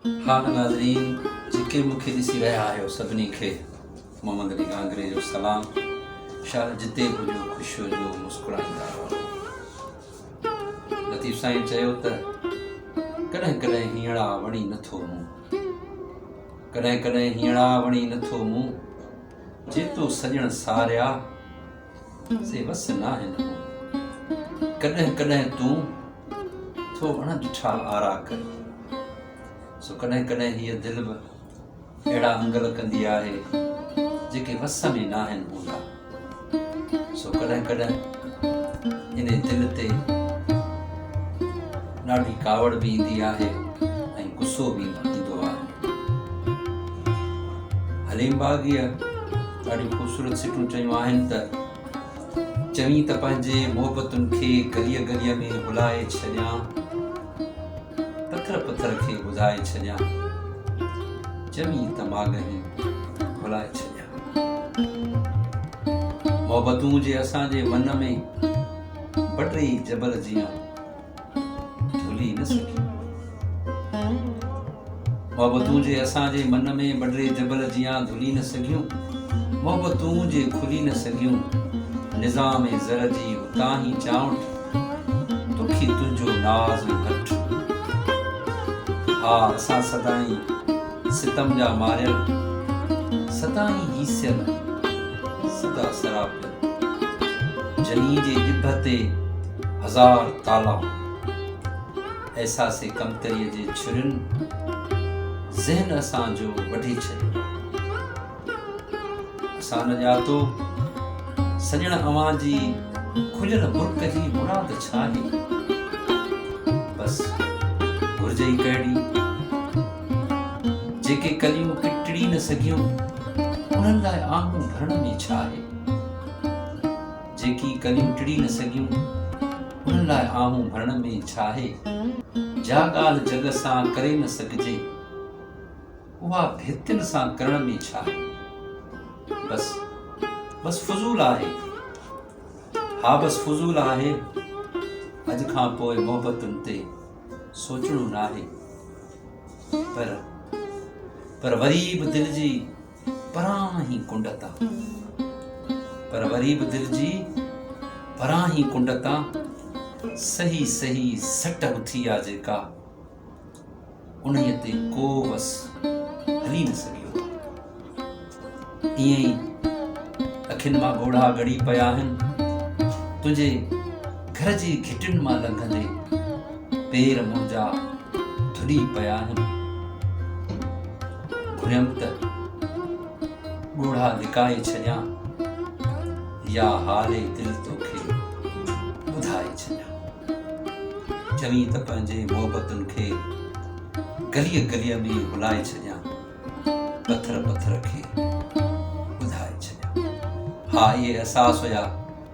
هاڻ ناظرين جيڪي مون کي ڏسي رهيا آهيو سڀني کي محمد علي گانگري جو سلام شال جتي به هجو خوش هجو مسڪرائيندا رهو لطيف سائين چيو ته ڪڏهن ڪڏهن هينئڙا وڻي نٿو مون ڪڏهن ڪڏهن هينئڙا وڻي نٿو مون جيتو سڄڻ ساريا سي وس ناهن هو ڪڏهن ڪڏهن تون ٿو اڻ ڏٺا آرا ڪري سو ڪڏهن ڪڏهن هيء دل به اهڙا انگل ڪندي آهي جيڪي وس ۾ ناهن هوندا سو ڪڏهن ڪڏهن ان دل تي ڏاڍي ڪاوڙ به ايندي آهي ۽ غصو به ايندو آهي حليم باغيء ڏاڍيون خوبصورت سٽون چيون آهن ته چوين ته پنهنجي محبتن کي گليء گليء ۾ هلائي ڇڏيان پٿر پٿر کي ٻڌائي ڇڏيان چوين ته ماڳهين هلائي ڇڏيان محبتون جي اسان جي من ۾ بٽري جبل جيان ڀلي نه سگهي. محبتون جي اسان جي من ۾ مڊري جبل جيان گهلي نه سگهيون، محبتون جي کلي نه سگهيون، نظام زر جي اتان هي چانوٺ، توکي تنهنجو ناز ۽ هٺ. ها اسان سدائين ستم جا ماريل، سدائين هيسيل، سدا سراپيل. جنين جي ڄڀ تي هزار تالا هئا. احساس ڪمتريء جي ڇرين ذهن اسان جو وڍي ڇڏيو. اسان نه ڄاتو، سڄڻ اوهان جي کليل برڪ جي مراد ڇا آهي؟ بس گهرجي ئي ڪهڙي؟ جيڪي ڪليون ڪٽڙي نه سگهيون، انهن لاء آنگون ڀرڻ ۾ ڇا آهي؟ جيڪي ڪليون ٽڙي نه سگهيون، ان لاء آهون ڀرڻ ۾ ڇاهي؟ جا ڳالهه جڳ سان ڪري نه سگهجي، اها ڀتين سان ڪرڻ ۾ ڇاهي؟ بس، بس فضول آهي. ها بس فضول آهي. اڄ کان پوء محبتن تي سوچڻو ناهي. پر، پر وري به دل جي پرانهن هي ڪنڊ تان پر وري به دل جي پرانهن هي ڪنڊ تان صحي صحي سٽ اٿي آ جيڪا انهي تي ڪو وس هلي نه سگهيو ايئن ئي اکين مان ڳوڙها ڳڙي پيا آهن تنهنجي گهر جي گهٽين مان لنگهندي پير منهنجا ڌڏي پيا آهن، گهريم ته ڳوڙها لڪائي ڇڏيان يا حال دل توکي ٻڌائي ڇڏيان، چوين ته پنهنجي محبتن کي گليء گليء ۾ هلائي ڇڏيان، پٿر پٿر کي ٻڌائي ڇڏيان. ها اهي احساس هيا.